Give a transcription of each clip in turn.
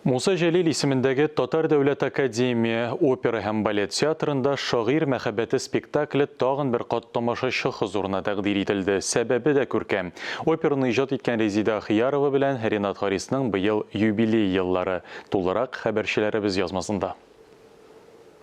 Муса Җәлил исемендәге Татар дәүләт академия опера һәм балет театрында Шагыйрь мәхәббәте спектакле тагын бер кат тамашачы хозурына тәкъдир ителде. Сәбәбе дә күркәм. Операны иҗат иткән Резидә Ахиярова белән Ренат Харисның быел юбилей еллары. Тулырак, хәбәрчеләребез язмасында.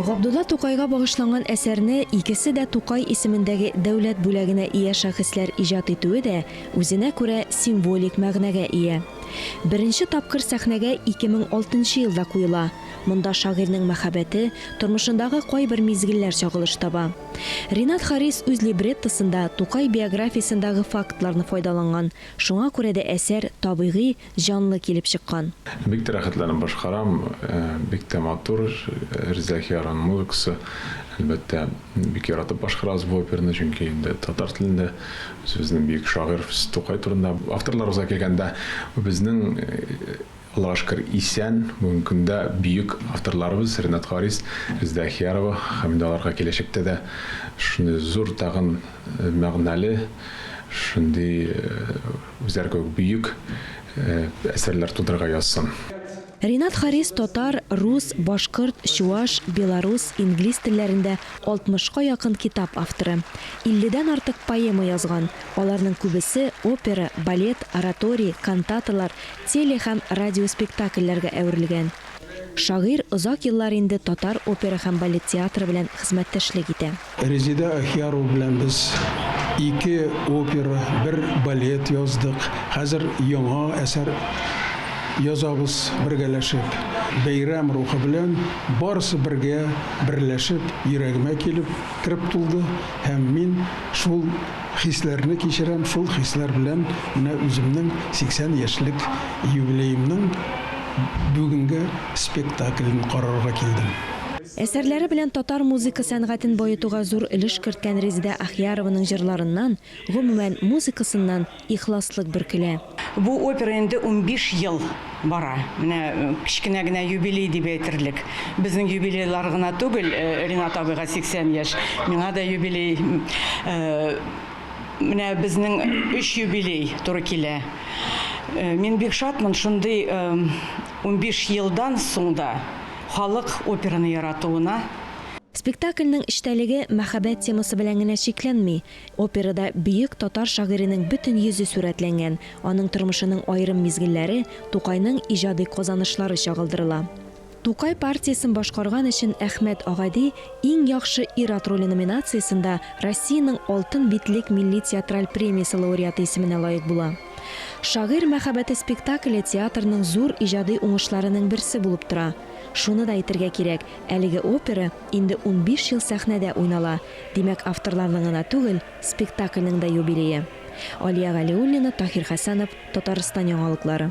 Габдулла Тукайга багышланган әсәрне икесе дә Тукай исемендәге дәүләт бүләгенә ия шәхесләр иҗат итүе дә үзенә күрә символик мәгънәгә ия. Беренче тапкыр сәхнәгә 2006 нчы елда куела. Монда шагыйрьнең мәхәббәте, тормышындагы кайбер мизгелләр чагылыш таба. Ринат Харис үз либреттосында Тукай биографиясендагы фактларны файдаланган, шуңа күрә дә әсәр табигый, җанлы килеп чыккан. Бик тә рәхәтләнеп башкарам, бик тә матур, Рзәхиярның музыкасы. Әлбәттә, бик яратып башкарабыз бу операны, чөнки инде татар телендә, үзебезнең бөек шагыйрь Фс. Тукай турында. Авторларыбызга килгәндә, безнең, Аллага шөкер, исән, бүгенге көндә бөек авторларыбыз Ренат Харис, Резедә Әхиярова һәм инде аларга киләчәктә дә шундый зур тагын мәгънәле, шундый, Үзләр кебек бөек әсәрләр тудырырга язсын. Ринат Харис татар, рус, башкорт, чуаш, белорус, инглиз телләрендә 60 ка якын китап авторы. 50 дән артык поэма язган, аларның күбесе опера, балет, ораторий, кантаталар, теле һәм радиоспектакльләргә әверелгән. Шагыйрь озак еллар инде татар опера һәм балет театры белән хезмәттәшлек итә. Резеда Әхиярова белән без ике опера, бер балет яздык. Хәзер яңа әсәр язабыз бергәләшеп. Бәйрәм рухы белән барысы бергә берләшеп йөрәгемә килеп кереп тулды һәм мин шул хисләрне кичерәм, шул хисләр белән менә үземнең 80 яшьлек юбилеемның бүгенге спектаклен карарга килдем. Әсәрләре белән татар музыка сәнгатен баетуга зур өлеш керткән Резедә Ахьярованың җырларыннан, гомумән, музыкасыннан ихласлык бөркелә. Бу опера инде унбиш ел бара. Менә кечкенә генә юбилей дип әйтерлек. Безнең юбилейлар гына түгел, Ринат абыйга 80 яшь, миңа да юбилей. Менә безнең өч юбилей туры килә. Мин бик шатмын шундый унбиш елдан соң да. Халык операны яратуына. Спектакльнең эчтәлеге мәхәббәт темасы белән генә чикләнми. Операда бөек татар шагыйренең бөтен йөзе сурәтләнгән, аның тормышының аерым мизгелләре, Тукайның иҗади казанышлары чагылдырыла. Тукай партиясен башкарган өчен Әхмәт Агади Иң яхшы ир-ат роле номинациясендә Россиянең Алтын битлек милли театраль премиясе лауреаты исеменә лаек була. Шагыйрь мәхәббәте спектакле театрның зур иҗади уңышларының берсе булып тора. Шуны да әйтергә кирәк, әлеге опера инде унбиш ел сәхнәдә уйнала, димәк, авторларның гына түгел, спектакльнең дә юбилее. Алия Галиуллина, Таһир Хәсәнов, Татарстан яңалыклары.